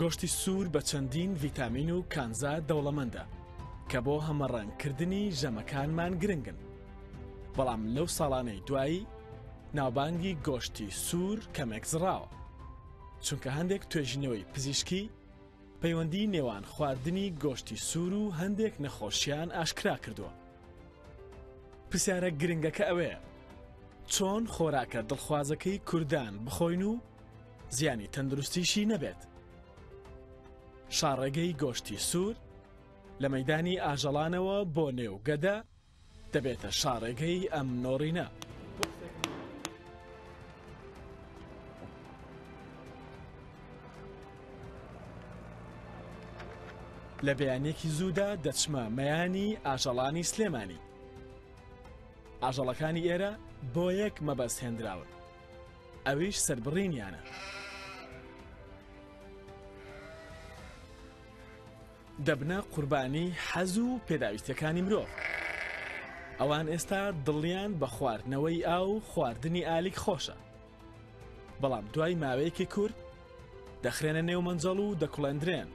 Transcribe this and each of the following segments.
گۆشتی سوور بە چەندین ڤیتامین و کانزا دەوڵەمەندە کە بۆ هەمەڕەنگکردنی ژەمەکانمان گرنگن بەڵام لەو ساڵانەی دوایی ناوبانگی گۆشتی سوور کەمێک زڕاوە چونکە هەندێک توێژینەوەی پزیشکی پەیوەندی نێوان خواردنی گۆشتی سوور و هەندێک نەخۆشیان ئاشکرا کردووە. پرسیارە گرنگەکە ئەوەیە چۆن خۆراکە دڵخوازەکەی کوردان بخۆین و زیانی تەندروستیشی نەبێت. شاڕێگەی گۆشتی سوور لە مەدانی ئاژەڵانەوە بۆ نێو گەدە، دەبێتە شاڕێگەی ئەم نۆڕینە. لە بەیانێکی زوودا دەچمە مەیانی ئاژەڵانی سلێمانی ئاژەڵەکانی ئێرە بۆ یەک مەبەست هێنراون ئەویش سربڕینیانە دەبنە قوربانی حەز و پێداویستیەکانی مرۆڤ ئەوان ئێستا دڵیان بە خواردنەوەی ئاو و خواردنی ئالیک خۆشە بەڵام دوای ماوەیەکی کورت دەخرێنە نێو مەنجەڵ و دەکڵێندرێن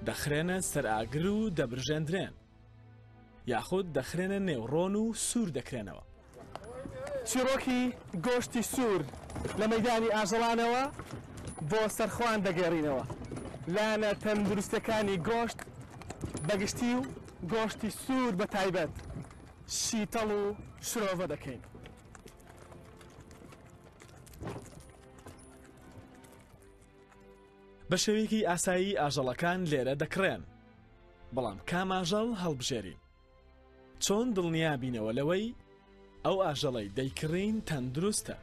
دەخرێنە سەر ئاگر و دەبرژێندرێن یاخود دەخرێنە نێو ڕۆن و سوور دەکرێنەوە. چیڕۆکی گۆشتی سوور لە مەیدانی ئاژەڵانەوە بۆ سەرخۆان دەگەڕینەوە. لایەنە تەندروستەکانی گۆشت بەگشتی و گۆشتی سوور بە تایبەت شیتەڵ و شرۆڤە دەکەین. بە شێوەیەکی ئاسایی ئاژەڵەکان لێرە دەکڕێن. بەڵام کام ئاژەڵ هەڵبژێرین؟ چۆن دڵنیا بینەوە لەوەی ئەو ئاژەڵەی دەیکڕین تەندروستە؟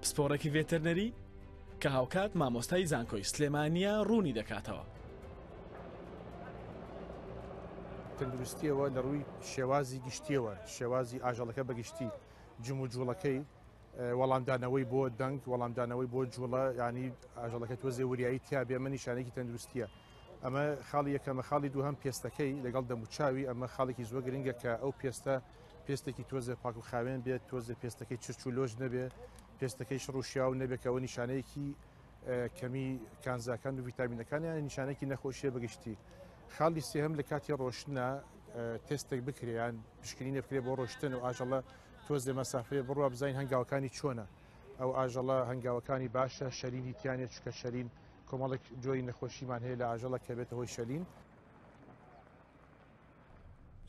پسپۆڕێکی ڤێتەرنەری کە هاوکات مامۆستای زانکۆی سلێمانیا ڕوونی دەکاتەوە. تەندروستیەوە لە ڕووی شێوازی گشتیەوە شێوازی ئاژەڵەکە بەگشتی جموجوڵەکەی وەڵامدانەوەی بۆ دەنگ وەڵامدانەوەی بۆ جوڵە ینی ئاژەڵەکە تۆزێ وریایی تیاابێ ئەمە نیشانێکی تەندروستیە ئەمە خاڵی یەکەمە خاڵی دوو هەم پێستەکەی لەگەڵ دەموچاوی ئەمە خاڵێکی زۆر گرنگە کە ئەو پێستە پێستێکی تۆزێ پاک و خاوێن بێت تۆزێ پێستەکەی چرچ و لۆژ نەبێ پێستەکەی شڕوشیا و نەبێکەوە نیشانەیەکی کەمی کانزاکان و ویتامینەکانیان نیشانێکی نەخۆشیە بەگشتی خاڵی سێهم لە کاتی ڕۆشنە تستێک بکریان پشکنینە بکرێ بۆ ڕۆشتن و ئاژەڵە تۆزێ مەسافرێ بڕوا بزانین هەنگاوەکانی چۆنە ئەو ئاژەڵە هەنگاوەکانی باشە شەرینی تیانێت چکە شەرین کۆمەڵێک جۆی نەخۆشیمان هەیە لە ئاژەڵە کە بێتە هۆی شەلین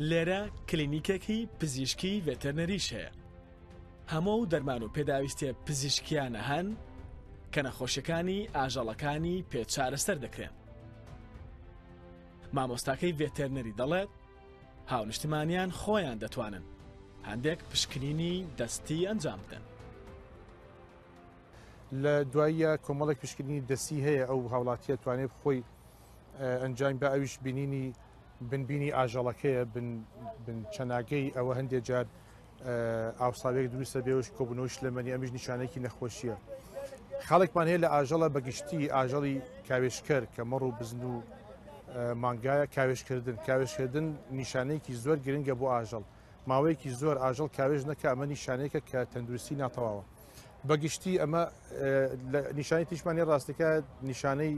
لێرە کلینیکێکی پزیشکی ڤێتەرنەریش هەیە هەموو و دەرمان و پێداویستێ پزیشکیانە هەن کە نەخۆشیەکانی ئاژەڵەکانی پێ چارەسەر دەکرێن مامۆستاکەی ڤێتەرنەری دەڵێت هاونیشتمانیان خۆیان دەتوانن هەندێک پشکنینی دەستی ئەنجام بدەن. لە دواییە کۆمەڵێک پشکنینی دەستی هەیە ئەو هاوڵاتیە توانێت خۆی ئەنجام بە ئەویش بینینی بنبینی ئاژەڵەکەیە بن چەناگەی ئەوە هەندێک جار ئاوساوێک دروستە بێوش کۆبوونەوەی شلەمەنی ئەمیش نیشانێکی نەخۆشیە خاڵێکمان هەیە لە ئاژەڵە بەگشتی ئاژەڵی کاوێشکەر کە مەڕ و بزن و مانگایە کاوێشکردن کاوێشکردن نیشانەیەکی زۆر گرنگە بۆ ئاژەڵ ماوەیەکی زۆر ئاژەڵ کاوێژ نەکە ئەمە نیشانەیەکە کە تەندروستی ناتەواوە بەگشتی ئەمە نیشانی تیشمانی ڕاستەکە نیشانەی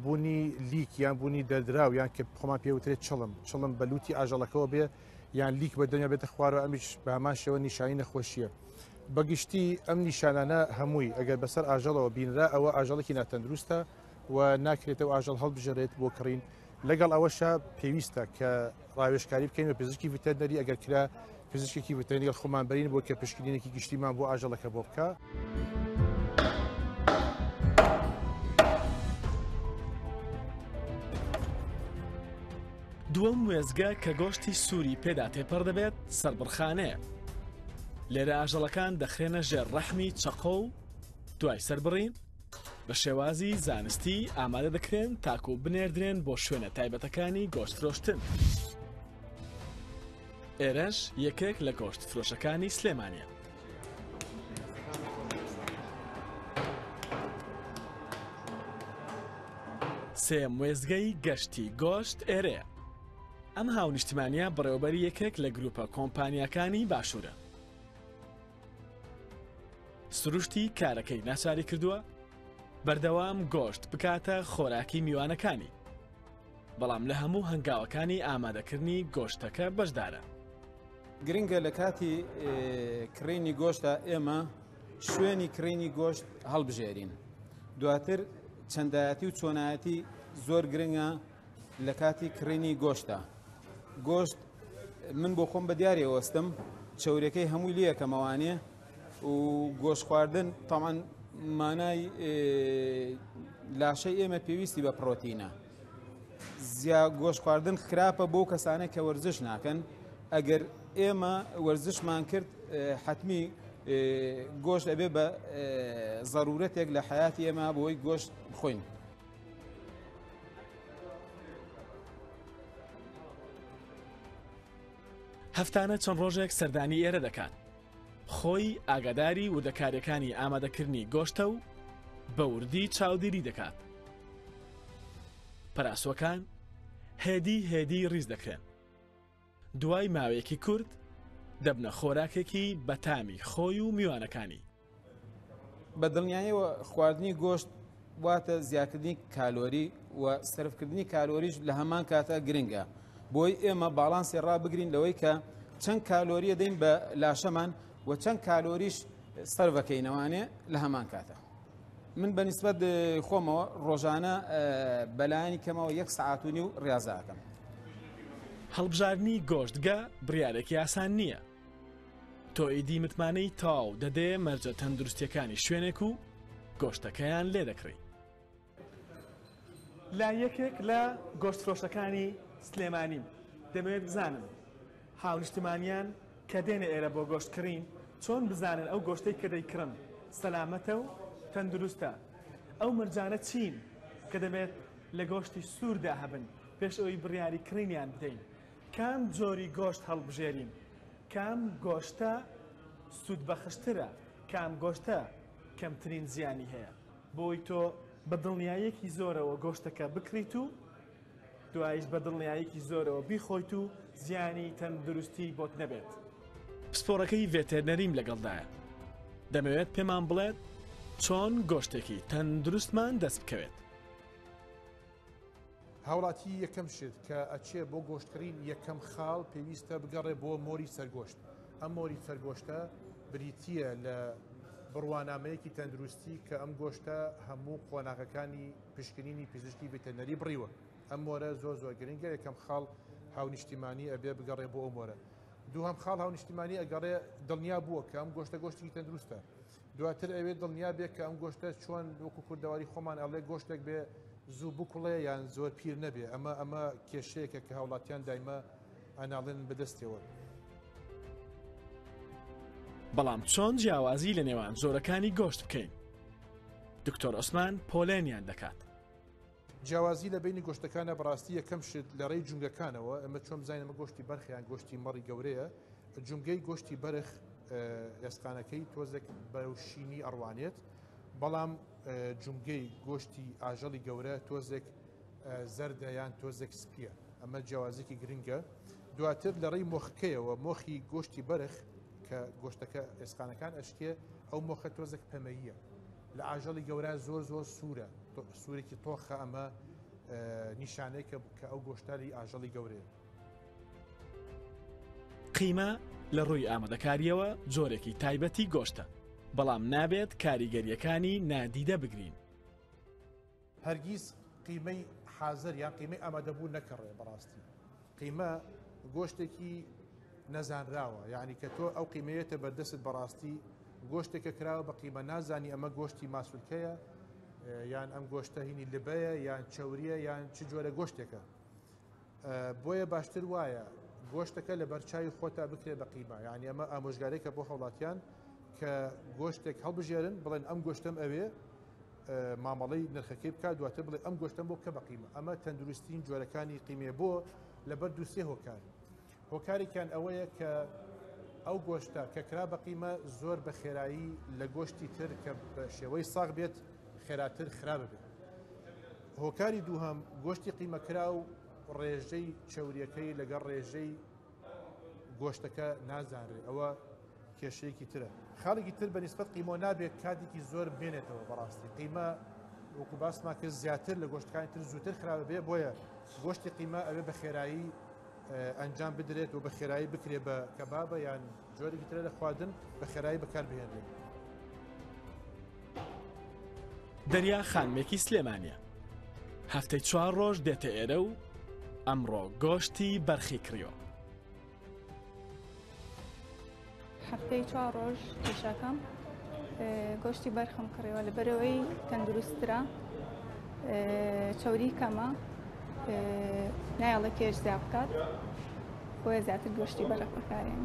بوونی لیک یان بوونی دەردراو یان کە خۆمان پێوترێت چڵم چڵم بەلوتی ئاژەڵەکەەوە بێ یان لیک بە دەمیا بێتە خوارەوە ئەمیش بە هەمان شێوە نیشانی نەخۆشیە بەگشتی ئەم نیشانانە هەمووی ئەگەر بەسەر ئاژەڵەوە بینرا ئەوە ئاژەڵێکی ناتەندروستە و ناکرێتەوە ئاژەڵ هەڵبژێرێت بۆ کڕین لەگەڵ ئەوەشە پێویستە کە ڕاوێشکاری بکەین بە پزیشکی ڤتەرنەری ئەگەر کرا پزیشکی ڤتەنیگەڵ خۆمان بەرین بۆ کە پشکنینێکی گشتیمان بۆ ئاژەڵەکە بۆ بکە دووەم وێزگە کە گۆشتی سووری پێدا تێپەڕ دەبێت سربڕخانەیە لێرە ئاژەڵەکان دەخرێنە ژێر ڕەحمی چەقۆ و دوای سربڕین بە شێوازی زانستی ئامادە دەکرێن تاکو و بنێردرێن بۆ شوێنە تایبەتەکانی گۆشت فرۆشتن. ئێرەش یەکێک لە گۆشت فرۆشەکانی سلێمانە. سێم وێزگەی گەشتی گۆشت ئێرێ ئەم هاونیشتمانیا بڕێوبەری یەکێک لە گروپە کۆمپانیەکانی باشوورە سروشتی کارەکەی ناچاری کردووە بەردەوام گۆشت بکاتە خۆراکی میوانەکانی بەڵام لە هەموو هەنگاوەکانی ئامادەکردنی گۆشتەکە بەشدارە. گرنگە لە کاتی کڕینی گۆشتدا ئێمە شوێنی کڕینی گۆشت هەڵبژێرین دواتر چەندایەتی و چۆنایەتی زۆر گرنگە لە کاتی کڕینی گۆشتە گۆشت من بۆ خۆم بە دیارێ وەستم چەورەکەی هەمووی لەکەمەوانێ و گۆشت خواردن تەمان مانای لاشەی ئێمە پێویستی بە پرۆتینە زیا گۆشت خواردن خراپە بۆ کەسانێک کە وەرزش ناکەن ئەگەر ئێمە وەرزشمان کرد حتمی گۆشت ئەبێ بە ضرورەتێک لە حیاتی ئێمە بۆی گۆشت بخۆین هەفتانە چەند ڕۆژێک سەردانی ئێرە دەکات خۆی ئاگاداری وردەکاریەکانی ئامادەکردنی گۆشتە و بە وردی چاودێری دەکات پەراسۆکان هێدی هێدی ڕیز دەکرێن دوای ماوەیەکی کورت دەبنە خۆراکێکی بەتامی خۆی و میوانەکانی بە دڵنیایەوە خواردنی گۆشت واتە زیاکردنی کالۆری و سرفکردنی کالۆریش لە هەمان کاتە گرنگە بۆی ئێمە باڵانسی ڕابگرین لەوەی کە چەند کالۆریە دەین بە لاشەمان و چەند کالۆریش سەرەکەینەوانێ لە هەمان کاتە من بە نسبت خۆمەوە ڕۆژانە بەلایانی کەمەوە یەک سعات و نیو ڕاضاکەم هەڵبژاردننی گۆشتگە بڕارێکی ئاسان نییە تۆ ئیدی متمانەی تاو دەدێ مەرجە تەندروستیەکانی شوێنێک و گۆشتەکەیان لێ دەکڕی. لە یەکێک لە گۆشتفرۆشەکانی سلێمانی دەمەوێت بزانم هاونیشتمانیان کە دێنە ئێرە بۆ گۆشت کڕین چۆن بزانن ئەو گۆشتەی کە دەیکڕن سەلامەتە و تەندروستە؟ ئەو مەرجانە چین کە دەبێت لە گۆشتی سووردا هەبن پێش ئەوەی بڕیاری کڕینیان بدەین؟ کام جۆری گۆشت هەڵبژێرین؟ کام گۆشتە سوودبەخشترە؟ کام گۆشتە کەمترین زیانی هەیە؟ بۆی تۆ بە دڵنیاییەکی زۆرەوە گۆشتەکە بکڕیت و دوایش بە دڵنیاییەکی زۆرەوە بیخۆیت و زیانی تەندروستی بۆت نەبێت؟ پسپۆڕەکەی ڤێتێرنەریم لەگەڵدایە، دەمەوێت پێمان بڵێت چۆن گۆشتێکی تەندروستمان دەست بکەوێت. هاوڵاتی یەکەم شت کە ئەچێ بۆ گۆشتکڕین یەکەم خاڵ پێویستە بگەڕێ بۆ مۆری سەرگۆشت ئەم مۆری سەرگۆشتە بریتییە لە بڕوانامەیەکی تەندروستی کە ئەم گۆشتە هەموو قۆناغەکانی پشکنینی پزیشکی ڤتەنەری بڕیوە ئەم مۆرە زۆر زۆر گرنگە یەکەم خاڵ هاونیشتیمانی ئەبێ بگەڕێ بۆ ئەو مۆرە دووهم خاڵ هاونیشتیمانی ئەگەڕێ دڵنیا بووە کە ئەم گۆشتە گۆشتی تەندروستە دواتر ئەوێ دڵنیا بێ کە ئەم گۆشتە چۆن وەکو کوردەواری خۆمان ئەڵێ گۆشتێک بێ زوو بکوڵێ یان زۆر پیر نەبێ ئەمە ئەمە کێشەیەکە کە هاوڵاتیان دایمە ئەناڵێن بەدەستەوە. بەڵام چۆن جیاوازی لە نێوان جۆرەکانی گۆشت بکەین؟ دکتۆر عوسمان پۆلێنیان دەکات. جیاوازی لە بەینی گۆشتەکانە بەڕاستی یەکەم شت لە ڕێی جونگەکانەوە ئەمە چۆن بزانین ئەمە گۆشتی بەرخیان گۆشتی مەڕی گەورەیە جونگەی گۆشتی بەرخ ئێسقانەکەی تۆزێک بەرەوشینی ئەڕوانێت بەڵام جونگەی گۆشتی ئاژەڵی گەورە تۆزێک زەردە یان تۆزێک سپیە ئەمە جیاوازێکی گرنگە دواتر لە ڕێی مۆخکەیەوە مۆخی گۆشتی بەرخ کە گۆشتەکە ئێسقانەکان ئەشتێ ئەو مۆخە تۆزێک پەمەییە لە ئاژەڵی گەورە زۆر زۆر سوورە سوورێکی تۆخە ئەمە نیشانێکە کە ئەو گۆشتاری ئاژەڵی گەورەیە. قیمە لە ڕووی ئامادەکاریەوە جۆرێکی تایبەتی گۆشتە بەڵام نابێت کاریگەریەکانی نادیدە بگرین. هەرگیز قیمەی حازەر یان قیمەی ئامادەبوو نەکەڕێ بەڕاستی قیمە گۆشتێکی نەزانراوە یعنی کە تۆ ئەو قیمەیەتە بەردەست بەڕاستی گۆشتێکە کراوە بە قیمە نازانی ئەمە گۆشتی ماسولکەیە یان ئەم گۆشتە هینی لبەیە یان چوریە یان چ جۆرە گۆشتێکە بۆیە باشتر وایە گۆشتەکە لە بەرچوی خۆتا بکرێ بە قیمە یعنی ئەمە ئامۆژگارێکە بۆ هەوڵاتیان کە گۆشتێک هەڵبژێرن بڵێن ئەم گۆشتم ئەوێ مامەڵی نرخەکەی بکات دواتر بڵێ ئەم گۆشتم بۆ کە بە قیمە ئەمە تەندروستین جۆرەکانی قیمێ بۆ لەبەر دووسێ هۆکار هۆکارێکیان ئەوەیە کە ئەو گۆشتە کە کرا بە قیمە زۆر بە خێرایی لە گۆشتی تر کە بە شێوەی ساغ بێت خێراتر خراپ بێت هۆکاری دووهەم گۆشتی قیمەکرا و ڕێژەی چوریەکەی لەگەڵ ڕێژەی گۆشتەکە نازانرێ ئەوە کێشەیەکی ترە خاڵێکی تر بە نسبت قیمۆ نابێت کاتێکی زۆر بێنێتەوە بەڕاستی قیمە وەکو باسماکە زیاتر لە گۆشتەکانی تر زووتر خراپ بێ بۆیە گۆشتی قیمە ئەوێ بە خێرایی ئەنجام بدرێت و بە خێرایی بکرێت بە کەبابە یان جۆرێکی ترە لە خواردن بە خێرایی بەکار بهێنرێت. دەریا خانمێکی سلێمانە هەفتەی چوار ڕۆژ دێتە ئێرە و ئەمڕۆ گۆشتی بەرخی کڕیۆ هەفتەی چوار ڕۆژ کێشاکەم گۆشتی بەرخم کڕیوە لە بەرەوەی تەندروسترا چوری کەمە نایڵە کێش زیاد بکات بۆیە زیاتر گۆشتی بەرەق بکارێن.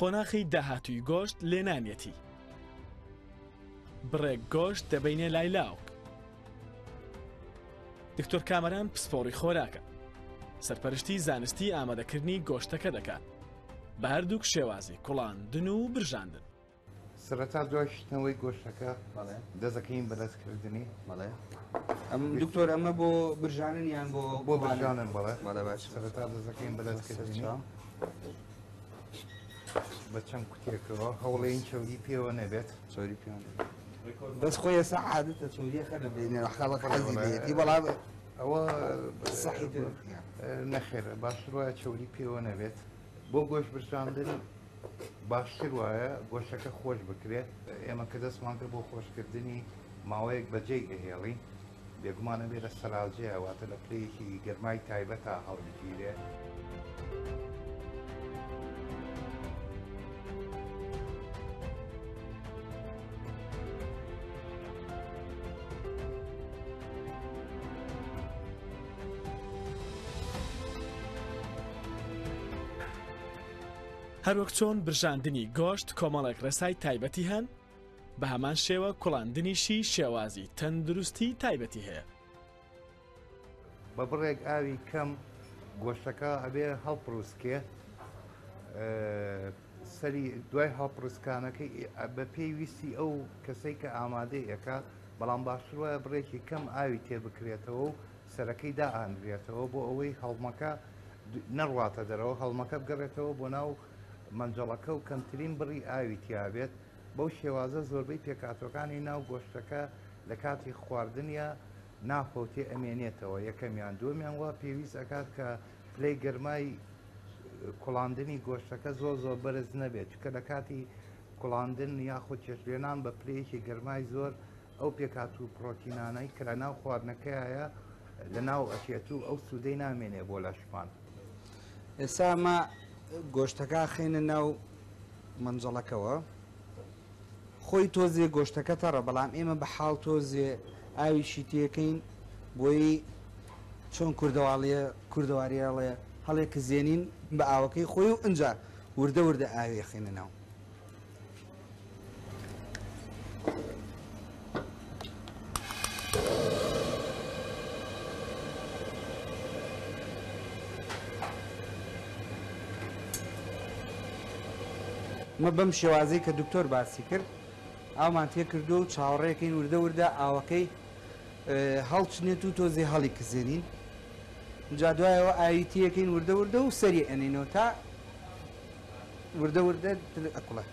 قۆناخی داهاتووی گۆشت لێنانیەتی. بڕێک گۆشت دەبینێ لای لاوک. دکتۆر کامەران پسپۆڕی خۆراکە. سەرپەرشتی زانستی ئامادەکردنی گۆشتەکە دەکات. بە هەردووک شێوازی کوڵاندن و برژاندن. سەرەتا دوای شتنەوەی گۆشتەکە دەزەکەین بەدەستکردنی بەڵێ ئەم دکتۆر ئەمە بۆ برژانن یان بۆ بۆ برژانن بەڵێ بەڵێ باش سەرەتا دەزەکەین بەدەستکردنی بە چەند کوتێکەوە هەوڵێن چەوری پێوە نەبێت چۆری پێ بەس خۆی ێستا عادەتە چۆریەکە دەبێنێ خەڵک حەزی لێتی بەڵام ئەوە سەحی نەخێرە باشتر وایە چەوری پێوە نەبێت بۆ گۆش برساندن باشتر وایە گۆشەکە خۆش بکرێت ئێمە کە دەستمانکە بۆ خۆشکردنی ماوەیەک بەجێی دەهێڵین بێگومان ئەبێ لە سەلاجێ واتە لە پلەیەکی گەرمای تایبەتا هەڵبگیرێ. هەروەک چۆن برژاندنی گۆشت کۆمەڵێک ڕێسای تایبەتی هەن، بە هەمان شێوە کوڵاندنیشی شێوازی تەندروستی تایبەتی هەیە. بە بڕێک ئاوی کەم گۆشتەکە ئەبێ هەڵپڕوسکێ سەری دوای هەڵپڕسکانەکەی بە پێی ویستی ئەو کەسەی کە ئامادەی ئەەکە بەڵام باشتر وایە بڕێکی کەم ئاوی تێ بکرێتەوە و سەرەکەی دائانرێتەوە بۆ ئەوەی هەڵمەکە نەڕواتە دەرەوە هەڵمەکە بگەڕێتەوە بۆ ناو مەنجەڵەکە و کەمترین بڕی ئاوی تیابێت، بەو شێوازە زۆربەی پێکهاتوەکانی ناو گۆشتەکە لە کاتی خواردنیا نافەوتێ ئەمێنێتەوە یەکەمیان دووەمیان وا پێویست ئەکات کە پلەی گەرمای کوڵاندنی گۆشتەکە زۆر زۆر بەرز نەبێت چکە لە کاتی کوڵاندن یاخود چێشلێنان بە پلەیەکی گەرمای زۆر ئەو پێکهات و پڕۆتینانەی کە لە ناو خواردنەکەیە لە ناو ئەچێت و ئەو سوودەی نامێنێ بۆ لەشمان ئێستا مە گۆشتەکە خێنە ناو مەنجەڵەکەەوە خۆی تۆزێ گۆشتەکە تەڕە بەڵام ئێمە بە حاڵ تۆزێ ئاویشی تێکەین بۆی چۆن کوردەواڵیە کوردەواریاڵێ هەڵێ کزێنین بە ئاوەکەی خۆی و ئەجا وردە وردە ئاوێ خێنە ناو مە بەم شێوازی کە دکتۆر باسی کرد ئامان تێکردو و چاوەڕێکەین وردە وردە ئاوەکەی هەڵچنێت و تۆزی هەڵی کزێنین جا دوایەوە ئاویتیەکەین وردە وردە و سەری ئەنینەوە تا وردە وردە دلت ئەکڵە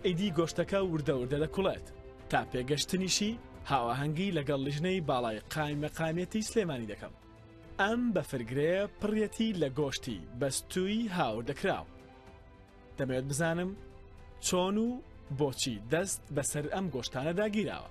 ئیدی گۆشتەکە وردە وردە دەکوڵێت تا پێگەشتنیشی هاوەهەنگی لەگەڵ لیژنەی باڵای قایمەقامەتی سلێمانی دەکەم ئەم بەفرگرەیە پڕەتی لە گۆشتی بەستووی هاوردەکراو دەمەوێت بزانم چۆن و بۆچی دەست بەسەر ئەم گۆشتانە داگیراوە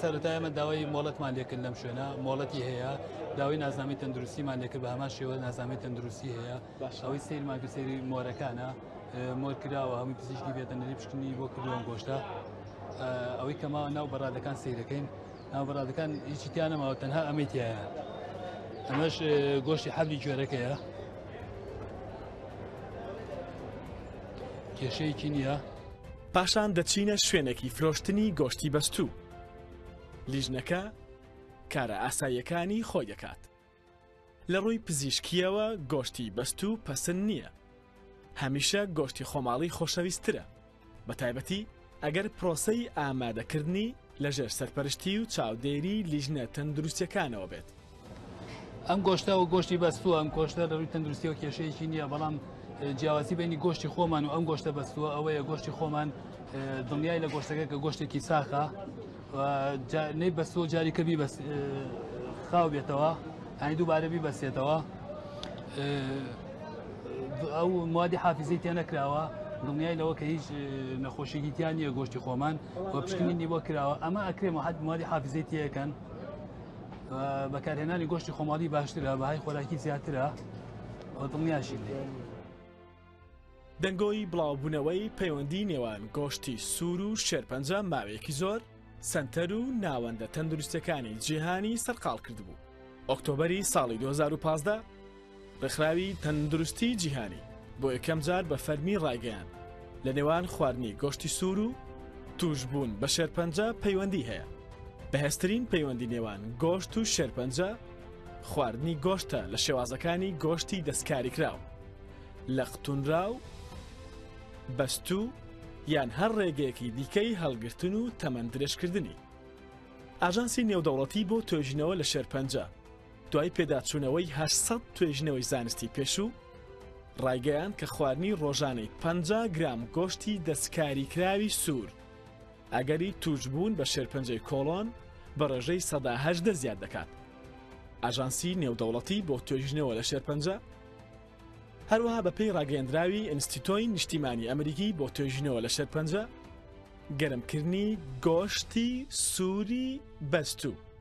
سەرەتا ئێمە داوای مۆڵەتمان لێکرد لەم شوێنە مۆڵەتی هەیە داوای نازنامەی تەندروستیمان لێکرد بە هەمان شێوە نازنامەی تەندروستی هەیە باشەوەی سیرمان کە سری مۆرەکانە مۆر کراوە هەمووی پزیشکی بێتە نری پشکنی بۆ کردووە گۆشتە ئەوەی کەما ناو بەڕادەکان سیرەکەین ناو بەڕادەکان هیچی تیانەماوە تەنها ئەمەی تایە ئەمەش گۆشتی حەبی گوێرەکەیە کێشەیەکی نییە پاشان دەچینە شوێنێکی فرۆشتنی گۆشتی بەستوو. لیژنەکە کارە ئاساییەکانی خۆی دەکات. لە ڕووی پزیشکییەوە گۆشتی بەستوو پەسند نییە. هەمیشە گۆشتی خۆماڵی خۆشەویستترە، بەتایبەتی ئەگەر پرۆسەی ئامادەکردنی، لەژێر سەرپەرشتی و چاودێری لیژنە تەندروستیەکانەوە بێت. ئەم گۆشتە و گۆشتی بەستووە ئەم گۆشتە لە ڕووی تەندروستیەوە کێشەیەکی نییە بەڵام جیاواسی بینی گۆشتی خۆمان و ئەم گۆشتە بەستووە ئەوەیە گۆشتی خۆمان دڵنیای لە گۆشتەکە کە گۆشتێکی ساخە نەی بەستووە جاریکە بی بەس خاو بێتەوە هەنی دووبارە بی بەسێتەوە ئەو موادی حافزی تێ نەکراوە دڵنیای لەوە کە هیچ نەخۆشیی تیان نیە گۆشتی خۆمان و پشکنینی بۆ کراوە ئەمە ئەکرێمە حد موادی حافزی تیەکەن بەکارهێنانی گۆشتی خۆماڵی باشترە بەهای خۆراکی زیاترە دڵنیاشی لێ. دەنگۆی بڵاوبوونەوەی پەیوەندی نێوان گۆشتی سوور و شێرپەنجە ماوەیەکی زۆر سنتەر و ناوەندە تەندروستەکانی جیهانی سەرقاڵ کردبوو. ئۆکتۆبری ساڵی 2015 ڕێکخراوی تەندروستیی جیهانی بۆ یەکەم جار بە فەرمی ڕایگەیاند، لە نێوان خواردنی گۆشتی سوور و تووشبوون بە شێرپەنجە پەیوەندی هەیە. بەهێزترین پەیوەندی نێوان گۆشت و شێرپەنجە خواردنی گۆشتە لە شێوازەکانی گۆشتی دەستکاریکراو، لەقتوونراو، بەستوو یان هەر ڕێگەیەکی دیکەی هەڵگرتن و تەمەن درێژکردنی. ئاژانسی نێودەوڵەتی بۆ توێژینەوە لە شێرپەنجە، دوای پێداچوونەوەی هەشت سەد توێژینەوەی زانستی پێشوو ڕایگەیاند کە خواردنی ڕۆژانەی پ گرام گۆشتی دەستکاریکراوی سوور ئەگەری تووشبوون بە شێرپەنجەی کۆڵۆن بە ڕێژەی سەداهدە زیاد دەکات ئاژانسی نێودەوڵەتی بۆ توێژینەوە لە شێرپەنجە هەروەها بەپێی ڕاگەندراوی ئینستیتۆی نیشتیمانی ئەمریکی بۆ توێژینەوە لە شێرپەنجە گەرمکردنی گۆشتی سووری بەستوو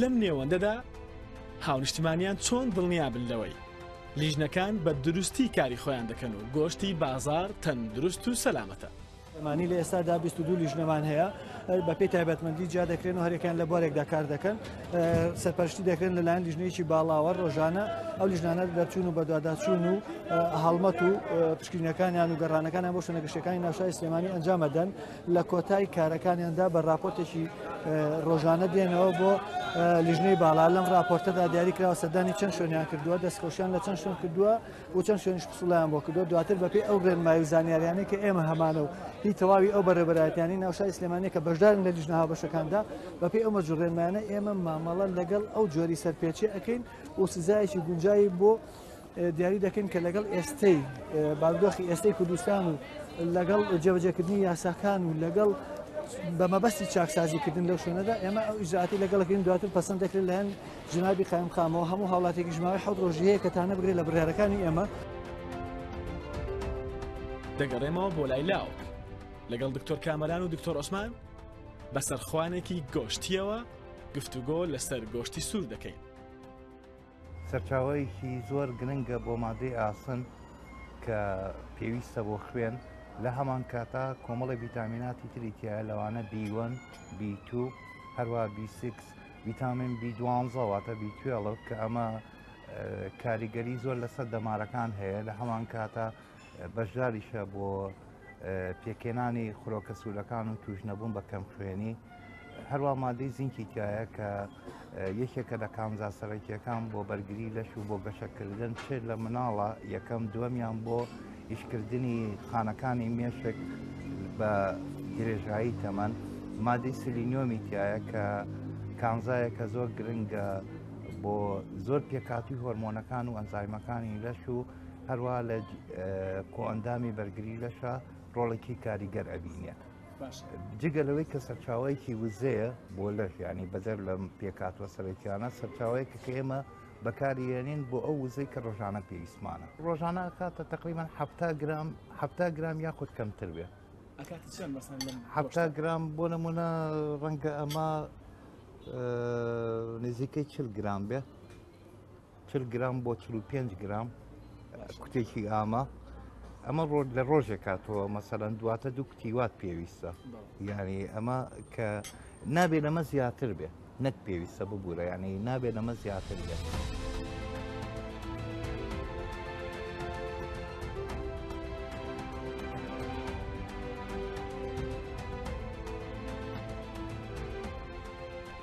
لەم نێوەندەدا هاونیشتمانیان چۆن دڵنیابن لەوەی لیژنەکان بە دروستی کاری خۆیان دەکەن و گۆشتی بازار تەندروست و سەلامەتە ئەمانەی لە ئێستادا بیست و دوو لیژنەمان هەیە بەپێی تایبەتمەندی جیا دەکرێن و هەرێکیان لە بوارێکدا کار دەکەن سەرپەرشتی دەکرێن لەلایەن لیژنەیەکی باڵاوە ڕۆژانە ئەو لیژنانە دەرچوون و بەدواداچوون و هەڵمەت و پشکینەکانیان و گەڕانەکانیان بۆ شوێنە گەشتەکانی ناوشای سلێمانی ئەنجامەدەن لە کۆتای کارەکانیاندا بە راپۆرتێکی ڕۆژانە دێنەوە بۆ لیژنەی باڵا لەم راپۆرتەدا دیاری کراوە سەردانی چەند شوێنیان کردووە دەستخۆشیان لە چەند شوێن کردووە بۆ چەند شوێنیش پسوڵیان بۆ کردو دواتر بەپێی ئەو ڕێنمایی و زانیاریانەی کە ئێمە هەمانە و هی تەواوی ئەو بەڕێبەرایەتیانی ناوشای سلێمانە کە بەشدارن لە لیژنە هاوبەشەکاندا بەپێی ئەو مەرجو ڕێنمایانە ئێمە مامەڵە لەگەڵ ئەو جۆری سەرپێچی ئەەکەین و سزایەکی گونجایی بۆ دیاری دەکەین کە لەگەڵ ئێستەی بارودۆخی ئێستەی کوردستان و لەگەڵ جێبەجێکردنی یاساکان و لەگەڵ بە مەبەستی چاکسازیکردن لەو شوێنەدا ئێمە ئەو ئیزاتی لەگەڵەکەین دواتر پسند دەکرێت لەەن جنابی قایمقامەوە هەموو هاوڵاتێکیش ماوەی حەوت ڕۆژی هەیە کە تانە بگرێت لە بڕیارەکانی ئێمە. دەگەڕێمەوە بۆ لای لاوک لەگەڵ دکتۆر کامەران و دکتۆر عوسمان بەسەر خوانێکی گۆشتیەوە گفتوگۆ لەسەر گۆشتی سوور دەکەین سەرچاوەیەکی زۆر گرنگە بۆ مادەی ئاسن کە پێویستە بۆ خوێن لە هەمان کاتا کۆمەڵی ڤیتامیناتی تریتیە لەوانە بیوەن بیتو هەروە بیسیکس ڤیتامین بی دوانزە واتە بی توێڵف کە ئەمە کاریگەری زۆر لەسەر دەمارەکان هەیە لە هەمان کاتە بەشداریشە بۆ پێکێنانی خرۆکە سوورەکان و توش نەبوون بە کەم خوێنی هەروە مادەی زینکی تایە کە یەکێکە لە کامزا سەرەکیەکان بۆ بەرگری لەش و بۆ گەشەکردن چێت لە مناڵە یەکەم دووەمیان بۆ ئیشکردنی خانەکانی مێشک بە درێژایی تەمەن مادەی سلینۆمی تایە کە کانزایە کە زۆر گرنگە بۆ زۆر پێکاتی هۆرمۆنەکان و ئەنزایمەکانی لەش و هەروە لە کۆئەندامی بەرگری لەشە ڕۆڵێکی کاریگەر ئەبینێ جگە لەوەی کە سەرچاوەیەکی وزەیە بۆ لەش ینی بەدەر لەم پێکاتوە سەرەکیانە سەرچاوەیەکە کە ئێمە بەکاریێنین بۆ ئەو وزەی کە ڕۆژانە پێویستمانە ڕۆژانە کاتە تقریبان ه گرام ه گرام یاخود کەمتر بێ ه گرام بۆ نمونە ڕەنگە ئەمە نزیکەی چل گرام بێ چل گرام بۆ چ پێنج گرام کوتێکی ئامە ئەمە ڕۆژ لە ڕۆژێک کاتەوە مەسەرەن دواتە دوو کتیوات پێویستە یعنی ئەمە کە نابێ لەمە زیاتر بێ نەک پێویستە ببوورە یعنی نابێت لەمە زیاتر بێت.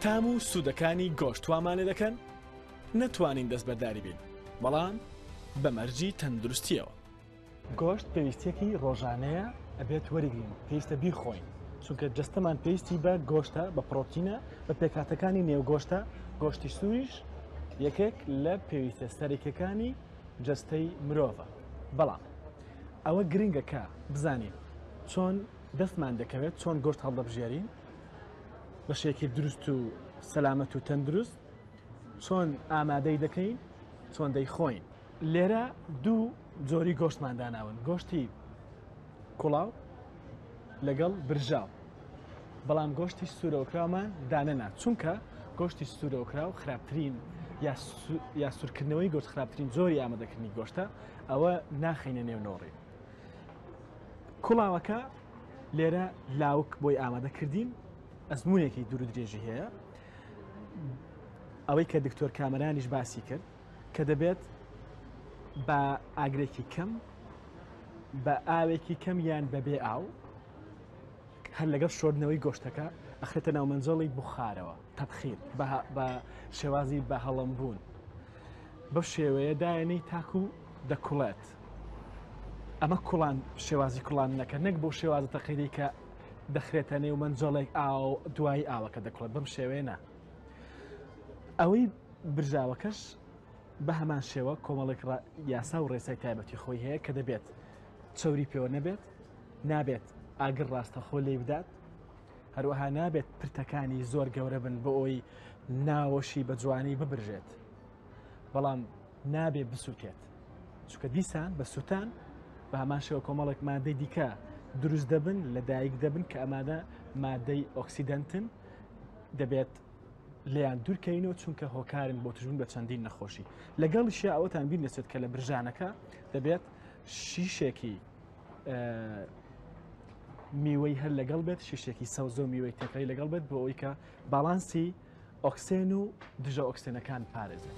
تام و سوودەکانی گۆشت وامانێ دەکەن نەتوانین دەستبەرداری بین بەڵام بە مەرجی تەندروستیەوە گۆشت پێویستیەکی ڕۆژانەیە ئەبێت وەرگین پێویستە بیخۆین چونکە جستەمان پێویستی بە گۆشتە بە پرۆتینە بە پێکاتەکانی نێوگۆشتە گۆشتی سووریش یەکێک لە پێویستە سەرێکەکانی جستەی مرۆڤە بەڵام ئەوە گرنگەکە بزانین چۆن دەستمان دەکەوێت چۆن گۆشت هەڵدەبژێرین بە شێکی دروست و سەلامەت و تەندروست چۆن ئامادەی دەکەین چۆن دەیخۆین لێرە دوو جۆری گۆشتمان داناون گۆشتی کوڵاو لەگەڵ برژاو بەڵام گۆشتی سوورەوەکرامان دانەنا چونکە گۆشتی سوورەوەکراو خراپترین یا سوورکردنەوەی گۆشت خراپترین زۆری ئامادەکردنی گۆشتە ئەوە ناخینە نێو نۆڕی کوڵاوەکە لێرە لاوک بۆی ئامادەکردین ئەزمونێکی دوور درێژی هەیە ئەوەی کە دکتۆر کامەرانیش باسی کرد کە دەبێت بە ئاگرێکی کەم بە ئاوێکی کەم یان بەبێ ئاو هەر لەگەڵ شۆردنەوەی گۆشتەکە ئەخێتە ناو مەنجەڵی بخارەوە تەبخیر بە شێوازی بە هەڵم بوون بە شێوەیە دایەنەی تاکو دەکوڵێت ئەمە کوڵان شێوازی کوڵان نەکە نەک بۆ شێوازە تەقیری کە دەخرێتە نێو مەنجەڵێک ئاو دوای ئاوەکە دەکڵێت بەم شێوێنە ئەوەی برژاوەکەش بە هەمان شێوە کۆمەڵێک یاسا و ڕێسای تایبەتی خۆی هەیە کە دەبێت چوری پێوە نەبێت نابێت ئاگر ڕاستەخۆ لێ بدات هەروەها نابێت پرتەکانی زۆر گەورە بن بۆ ئەوی ناوەشی بە جوانی ببرژێت بەڵام نابێ بسووتێت چکە دیسان بە سووتان بە هەمان شێوە کۆمەڵێک مادەی دیکە دروست دەبن لە دایک دەبن کە ئەمادە مادەی ئۆکسیدنتن دەبێت لێیان دوورکەینەوە چونکە هۆکارن بۆ توژبوون بە چەندین نەخۆشی لەگەڵیشە ئەوەتان بیر نەچێت کە لە برژانەکە دەبێت شیشێکی میوەی هەر لەگەڵ بێت شیشێکی سەوزۆ میوەی تەکەی لەگەڵ بێت بۆ ئەوی کە باڵانسی ئۆکسێن و دژە ئۆکسێنەکان پارێزێت.